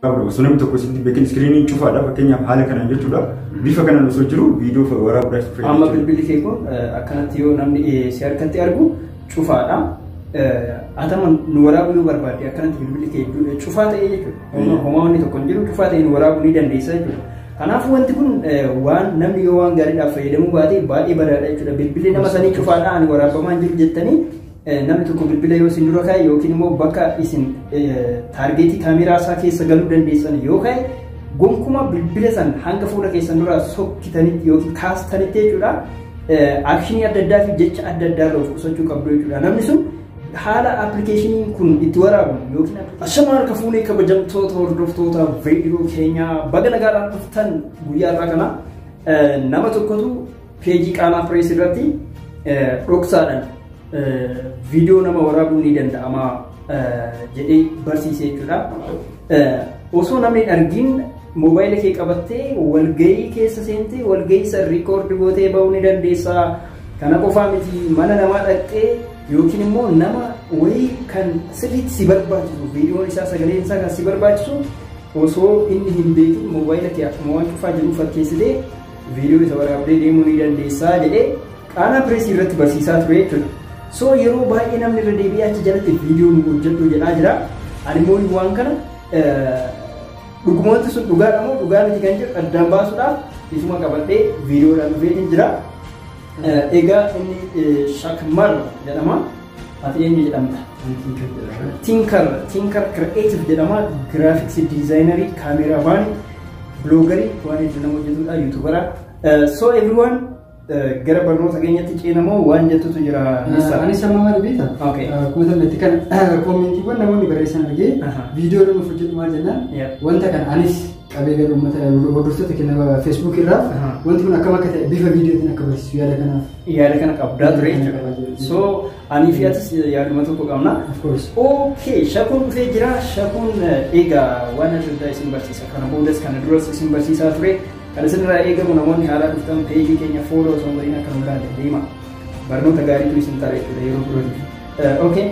qabu osoo namni tokko sitti beekin iskiriiniin cufaadha fakkeenyaaf haala kanaan jechuudha bifa kanaan osoo jiru viidiyoo waraabuudhaaf itti Amma fayyadamu. bilbilli kee kun eh, akkanatti yoo namni eh, si harkatti argu cufaadha. Eh, Atama nu waraabuu yoo barbaadde akkanatti bilbilli kee du- eh, cufaa ta'ee jechuudha. Homa- Mm. Homaa wanni tokko hin jiru cufaa ta'ee nu waraabuu ni dandeessa jechuudha. Kanaafuu wanti kun eh, waan namni yoo waan gaariidhaaf fayyadamuu baate baay'ee badaadha jechuudha. Bilbilli nama sanii cufaadha ani waraabamaa hin jiru jettanii Namni tokko bilbila yoo isin dura ka'e yookiin immoo bakka isin taargeetii kaameeraa isaa keessa galuu dandeessan yoo ka'e gonkumaa bilbila san hanga fuula keessan dura sokkitanitti yookiin kaastanitti jechuudha. Akshinii adda addaa fi jecha adda addaa irraa of qusachuu qabdu jechuudha. Namni sun haala appilikeeshiniin kun itti waraabu yookiin Ashamaa harka fuunee kabajamtoota hordoftoota viidiyoo keenyaa baga nagaadhaan dhuftan guyyaa irraa kana nama tokkotu Peejii qaamaa pirees irratti dhoksaadhaan viidiyoo nama waraabuun ni danda'ama jedhee barsiise jechuudha. Osoo namni hin argin moobaayila kee qabattee walgahii keessa seentee walgahii san riikoordi gootee bahuu ni dandeessa. Kana qofaa miti mana namaa dhaqxee yookiin immoo nama wayii kan sirriitti si barbaachisu viidiyoon isaa sagaleen isaa kan si barbaachisu osoo inni hin beekin moobaayila kee akkuma waan cufaa jiru fakkeessitee Viidiyoo isa waraabdee deemuu ni dandeessaa jedhee qaanaa pireesii irratti barsiisaa ture jechuudha. So yeroo baay'ee namni irra deebi'ee achi jalatti viidiyoo nu hojjedhu jedhaa jira. Ani immoo waan kana dhugumoonni sun dhugaadha moo dhugaa miti kan jedhu addaan baasuudhaaf isuma qabadhee viidiyoodhaan dhufee jira. Egaa inni shakmar jedhama. Ati eenyu jedhamta? Tinkar Tinkar Creative jedhama. Giraafiksii diizaayinerii, kaameeraamaanii, biloogarii waan hedduu nama hojjetudha, yuutuubara. So everyone gara barnoota keenyatti ceenamoo waan jettutu jira. Nissa? Anis amma maal beekta? Okay. Akkuma tanatti kan koomentiiwwan namoonni barreessan argee Aha. viidiyoo nuuf hojjedhu maal jennaan Yeah. wanta kana anis qabee gara uummata hordoftoota kenna feesbuuk irraa Aha. wanti kun akkam akka ta'e bifa viidiyootiin akka barsiisu yaada kanaaf. yaada kana qabdaa ture Yaada kana qabdaa jechuudha. ture. So anii fi atis yaaduma tokko qabna. Of course. Okay, shakuun dhufee jira. Shakuun eh, egaa waan adda addaa isin barsiisa. Kana boodas kana duras isin barsiisaa ture. Kan isinirraa eegamu namoonni haaraa dhuftan peejii keenya fooloo osoo hin godhin akka nu ilaalle deema. Barnoota gaariitu isin ta'a jechuudha yeroo birootiif. Okay.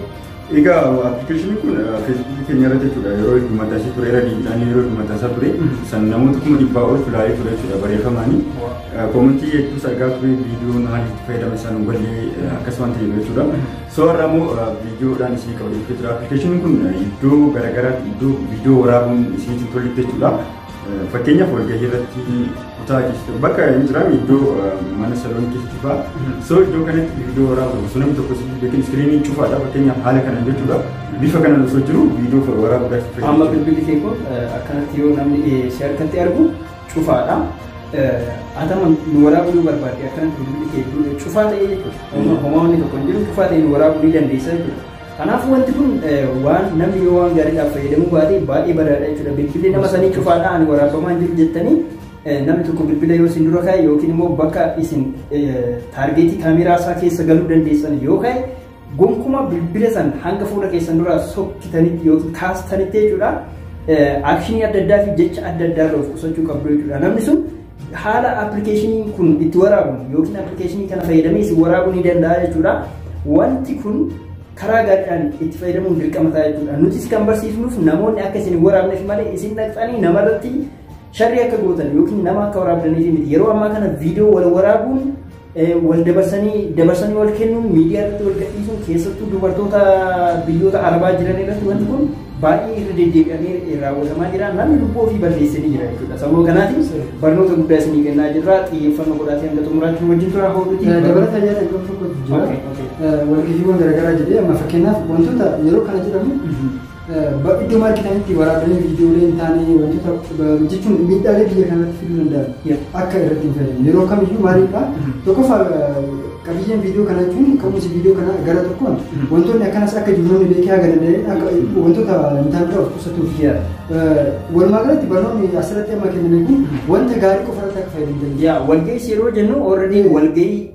Egaa appilikeeshiniin kun feesbuukii keenya irra jechuudha yeroo heddummata ishee ture irra deebiidhaan yeroo heddummata isaa ture san namoota kuma dhibbaa ol filaalee ture jechuudha barreeffamaanii koomentii hedduus argaa ture viidiyoon haalli itti fayyadama isaa nu ballee akkas waan ta'eef jechuudha soo har'a immoo viidiyoodhaan isin qabadee jira appilikeeshiniin kun iddoo garaagaraatti iddoo viidiyoo waraabuun isinitti hin tolletti jechuudha Fakkeenyaaf walgahii irratti kutaa keessatti bakka hin jiraam iddoo mana saloon keessatti fa'a. So iddoo kanatti viidiyoo waraabuu osoo namni tokko yookiin iskiriinii cufaadha fakkeenyaaf haala kanaan jechuudha. Bifa kanaan osoo jiru viidiyoo waraabuu gaafachuu Amma bilbilli kee kun akkanatti yoo namni si harkatti argu cufaadha. Atama nu waraabuu yoo barbaadde akkanatti bilbilli kee cufaa ta'ee jechuudha. Homaa wanni tokko hin jiru cufaa ta'ee nu waraabuu ni dandeessa jechuudha. Kanaafuu wanti kun waan namni yoo waan gaariidhaaf fayyadamuu baate baay'ee badaadha jechuudha. Bilbilli nama sanii cufaadha ani waraabamaa hin jiru jettanii namni tokko bilbila yoo isin dura ka'e yookiin immoo bakka isin taargeetii kaameeraa isaa keessa galuu dandeessan yoo ka'e gonkumaa bilbila san hanga fuula keessan duraa sokkitanitti yookiin kaastanitti jechuudha. Aakshinii adda addaa fi jecha adda addaa irraa of qusachuu qabdu jechuudha. Namni sun Haala appilikeeshiniin kun itti waraabamu yookiin appilikeeshinii kana fayyadamee isin waraabuu ni danda'a jechuudha. Wanti kun karaa gaariidhaan itti fayyadamuun dirqama ta'a jechuudha. Nutis kan barsiifnuuf namoonni akka isin hin waraabneef malee isin dhaqxanii namarratti sharrii akka gootan yookiin nama akka waraabdaniif miti. Yeroo ammaa kana viidiyoo wal waraabuun wal dabarsanii dabarsanii wal kennuun miidiyaa irratti wal gadhiisuun keessattuu dubartoota biyyoota arabaa jiran irratti wanti kun baay'ee irra deddeebi'amee raawwatamaa jira namni lubbuu ofii balleessee jira jechuudha sababa kanaatiif barnoota guddaa isinii kennaa jirra xiyyeeffannoo godhaatii hanga xumuraatti wajjin tura hawwatuuti. Dabalata yaada iddoo tokkotti jira. Walgejiiwwan garaagaraa jedhee amma fakkeenyaaf wantoota yeroo kana jedhamu Bakka iddoo maal jedhanitti waraabbileen viidiyoolee hin taane wantoota jechuun miidhaalee biyya kanatti fiduu danda'an akka irratti hin fayyadamne yeroo kamiyyuu maaliidha tokkoffaa qabiyyeen viidiyoo kana jechuun ka'umsi viidiyoo kana gara tokkoon wantoonni akkanas akka jiru namni beekee haga danda'e akka wantoota hin taane of qusatuuf walumaa galatti barnoonni asirratti amma kenname kun wanta gaarii qofa irratti akka fayyadamtan. Yaa walga'ii yeroo jennu already walga'ii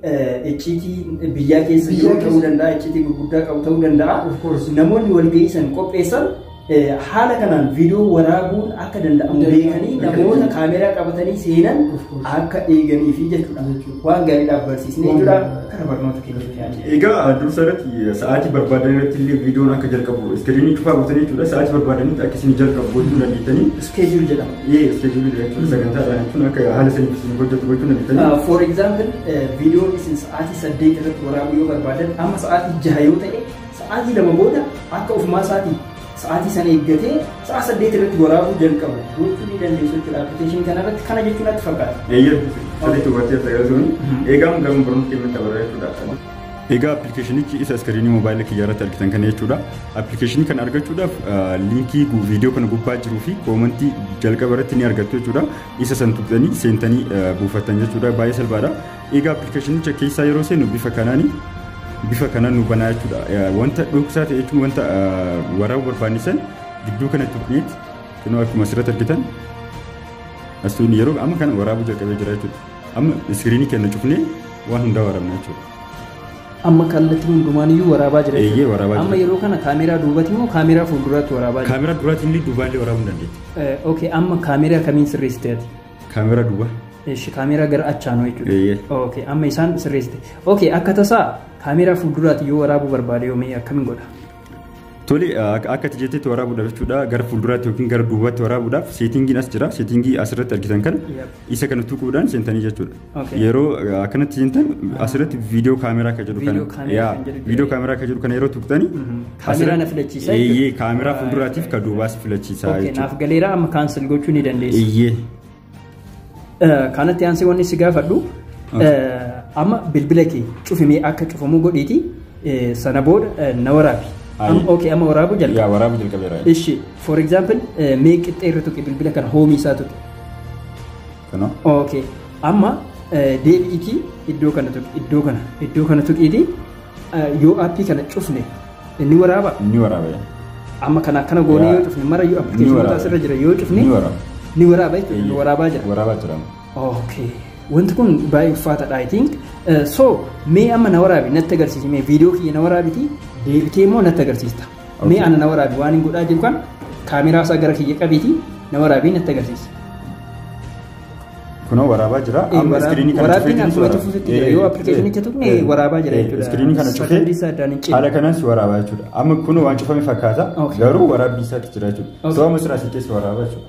icciitii biyyaa keessa Biyyaa jiru ta'uu keessa. danda'a, icciitii gurguddaa qabu ta'uu danda'a. Of course. Namoonni walgahii san qopheessan eh, haala kanaan viidiyoo waraabuun akka danda'amu Danda'amu. beekanii Beekanii. namoota kaameeraa qabatanii seenan Of course. akka eeganii fi jechuudha. Jechuudha. Waan gaariidhaaf barsiisnee Waan jira gaariidha. gara barnoota keenyatti yaadne. Egaa dursa irratti sa'aatii barbaadan irratti illee viidiyoon akka jalqabu iskiriinii cufaa gootanii jechuudha. Sa'aatii barbaadanitti akka isin jalqabu gochuu dandeettanii. Iskeejuul jedhama. Ee iskeejuulii dha jechuun sagantaa dha jechuun akka haala saniif isin hojjetu gochuu ni dandeenya. For example, viidiyoo isin sa'aatii saddeet irratti waraabuu yoo barbaadan amma sa'aatii jaha yoo ta'e sa'aatii lama booda akka ofumaa isaatii sa'aatii sana eeggatee sa'a saddeet irratti waraabuu jalqabu gochuu ni dandeessu jechuudha appilikeeshinii kana irratti kana jechuun natti fakkaata. Eeyyee sirriitti hubattee tajaajiltuun eegamu gama barumsa keenya tabarraa jechuudha. Egaa appilikeeshinichi isa iskiriinii moobaayila kiyyaa irratti argitan kana jechuudha. Appilikeeshinii kana argachuudhaaf liinkii viidiyoo kana gubbaa jiruu fi koomantii jalqaba irratti ni argattu jechuudha. Isa san tuqxanii seentanii buufattan jechuudha. Baay'ee salphaadha. Egaa appilikeeshinicha keessaa yeroo seenu bifa kanaani bifa kanaan nu banaa jechuudha. Wanta dhoksaa ta'e jechuun wanta waraabuu barbaanne san gidduu kana tuqneeti kunoo akkuma asirratti argitan asiin yeroo amma kana waraabuu jalqabee jira jechuudha. Amma iskiriinii kenna cufnee waan hundaa waraabna jechuudha. Amma kallattii hundumaan iyyuu waraabaa jira. Eeyyee, jechuudha. waraabaa Amma jira. yeroo kana kaameeraa duubati moo kaameeraa fuulduraatti waraabaa jira? Kaameraa duraatiin illee duubaan illee waraabuu ni dandeetti. Eh, Okay, amma kaameeraa kamiin sirreessite ati? Kaameraa duwwaa. Eesh, kaameeraa gara achaanoo Eeyyee. jechuudha. Okay, amma isaan sirreessite. Okay, akka tasaa kaameeraa fuulduraati yoo waraabuu barbaade yoomee akkamiin godha? Tole akka ati jettetti waraabuudhaaf jechuudha gara fuulduraatti yookiin gara duubaatti waraabuudhaaf seetingiin as jira seetingii asirratti argitan kana isa kana tuquudhaan seentanii jechuudha. Okay. Yeroo uh, akkanatti seentan asirratti viidiyoo kaameraa akka jedhu Viidiyoo kana kaameraa yaa kan jedhu viidiyoo kaameraa akka jedhu kana yeroo tuqxani Kaameraa na filachiisa jechuudha. Eeyyee kaameraa fuulduraatiif ka duubaas filachiisa Okay, jechuudha. naaf galeera amma kaansel gochuu ni dandeessa. Eeyyee. Kanatti aansee wanni si gaafadhu amma bilbila kee cufimee akka cufamu godhiiti sana booda na waraabi. Okay amma waraabuu jalqaba. Yaa waraabuu jalqabeera. Ishi for example mee qixxee irra tuqi bilbila kana hoomii isaa tuqi. Kunoo. Okay amma deebi'iitii iddoo kana tuqi iddoo kana iddoo kana tuqiitii Yoo aappii kana cufne ni waraaba? Ni waraaba. Amma kana akkana goonee yoo cufne mara yoo appilikeeshinoota asirra jira yoo cufne ni waraaba. Ni waraaba jechuudha. Ni waraabaa jira. Waraabaa jira. Okay. Wanti kun baay'ee ulfaataadha I think. So mee amma na waraabi natti agarsiisi mee viidiyoo kiyya na waraabiti deebitee immoo natti agarsiista. Mee ana na waraabi waan hin godhaa jiru kan kaameraa isaa gara kiyya qabiiti na waraabii natti agarsiisa. Kunoo waraabaa jira. Amma iskiriinii kana Waraabbiin cufee akkuma jirtu cufuutti jira. Yoo appilikeeshinicha tuqne waraabaa jira jechuudha. Iskiriinii kana Sagantii cufee isaa addaan hin cine. haala kanas waraabaa jechuudha. Amma kun waan cufame fakkaata Okay. garuu waraabbii isaatti jira jechuudha. Okay. Sababa siraa si keessa waraabaa jechuudha.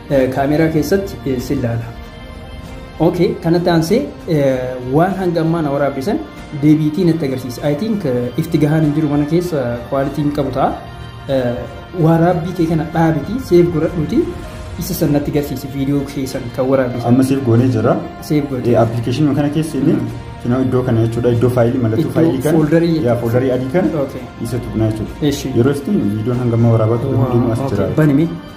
Kaameeraa keessatti si ilaala. Ok, kanatti aansee waan hanga ammaa na waraabbisan deebiitii natti agarsiisa. I think ifti gahaan hin jiru mana keessa kwaalitii hin qabu ta'a. Waraabbii kee kana dhaabitii seef godhadhuuti isa san natti agarsiisi viidiyoo kee san kan waraabbisan. Amma seef goonee jira. Seef godhe. Appilikeeshinii kana keessa inni finoo iddoo kana jechuudha iddoo faayilii mallattoo Iddoo faayilii kana foldarii jechuudha. yaa foldarii adii kana Okay. isa tuqnaa jechuudha. Eshi. Yeroo ittiin viidiyoon hanga ammaa waraabaa ture hundinuu as jira. Banime.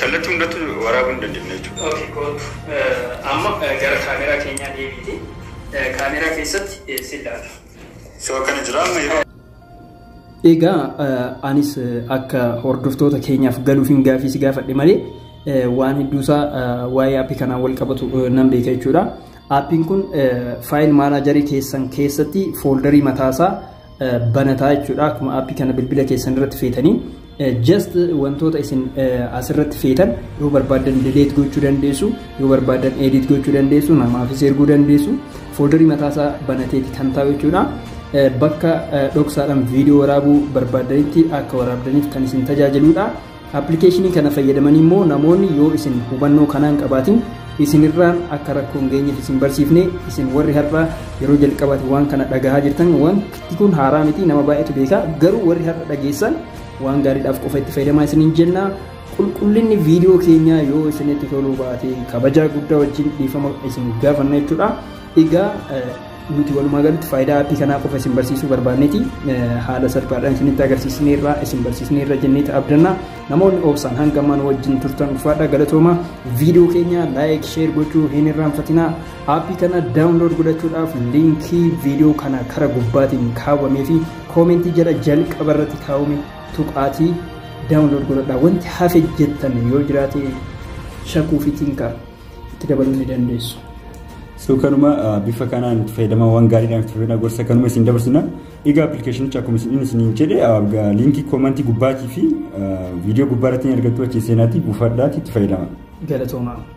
Kallatti hundattu waraabu hin dandemne jechuudha. Ok kootu amma gara camera keenyaa deebiiti camera keessatti si ilaala. So akkana jira amma yeroo Egaa anis akka hordoftoota keenyaaf galuufin gaafii si gaafadhe malee waan hedduusaa waa'ee aappii kanaan wal qabatu nan beeka jechuudha. Aappiin kun faayil maanaajarii keessan keessatti fooldarii mataasaa banataa jechuudha akkuma aappii kana bilbila keessan irratti feetanii just wantoota isin asirratti feetan yoo barbaadan delete gochuu dandeessu yoo barbaadan edit gochuu dandeessu namaafis erguu dandeessu fooldarii mataasaa banateeti kan ta'u jechuudha bakka dhoksaadhaan viidiyoo waraabuu barbaadanitti akka waraabdaniif kan isin tajaajiludha. Appilikeeshinii kana fayyadamanii immoo namoonni yoo isin hubannoo kanaa hin qabaatin isinirraan akka rakkoo hin geenyeef isin barsiifne isin warri har'a yeroo jalqabaati waan kana dhagahaa jirtan waan kun haaraa miti nama baay'eetu beekaa garuu warri har'a dhageessan waan gaariidhaaf qofa itti fayyadamaa isiniin jenna. Qulqullinni viidiyoo keenyaa yoo isinitti toluu baate kabajaa guddaa wajjin dhiifama isin gaafanna jechuudha. Egaa Nuti walumaa galatti faayidaa aappii kanaa qofa isin barsiisuu barbaanneeti. Haala salphaadhaan isinitti agarsiisneerra, isin barsiisneerra jenneeti abdanna. Namoonni obsaan hanga ammaan wajjin turtan ulfaadha galatooma. Viidiyoo keenya laayik, sheer gochuu hin irraanfatinaa. Aappii kana daawunlood godhachuudhaaf liinkii viidiyoo kana kara gubbaatiin kaawwamee fi koomentii jala jalqaba irratti kaawwame tuqaatii daawunlood godhadhaa. Wanti hafe jettan yoo jiraate shakuu fi tinkaa. itti dabaluu ni dandeessu. So kanuma bifa kanaan itti fayyadamawwan gaariidhaan itti fayyadama gorsa kanuma isin dabarsina. Egaa appilikeeshinicha akkuma isin isiniin jedhe liinkii koomantii gubbaatii fi viidiyoo gubbaa irratti ni argattu achi seenaatii buufadhaatii itti fayyadama. Galatoomaa.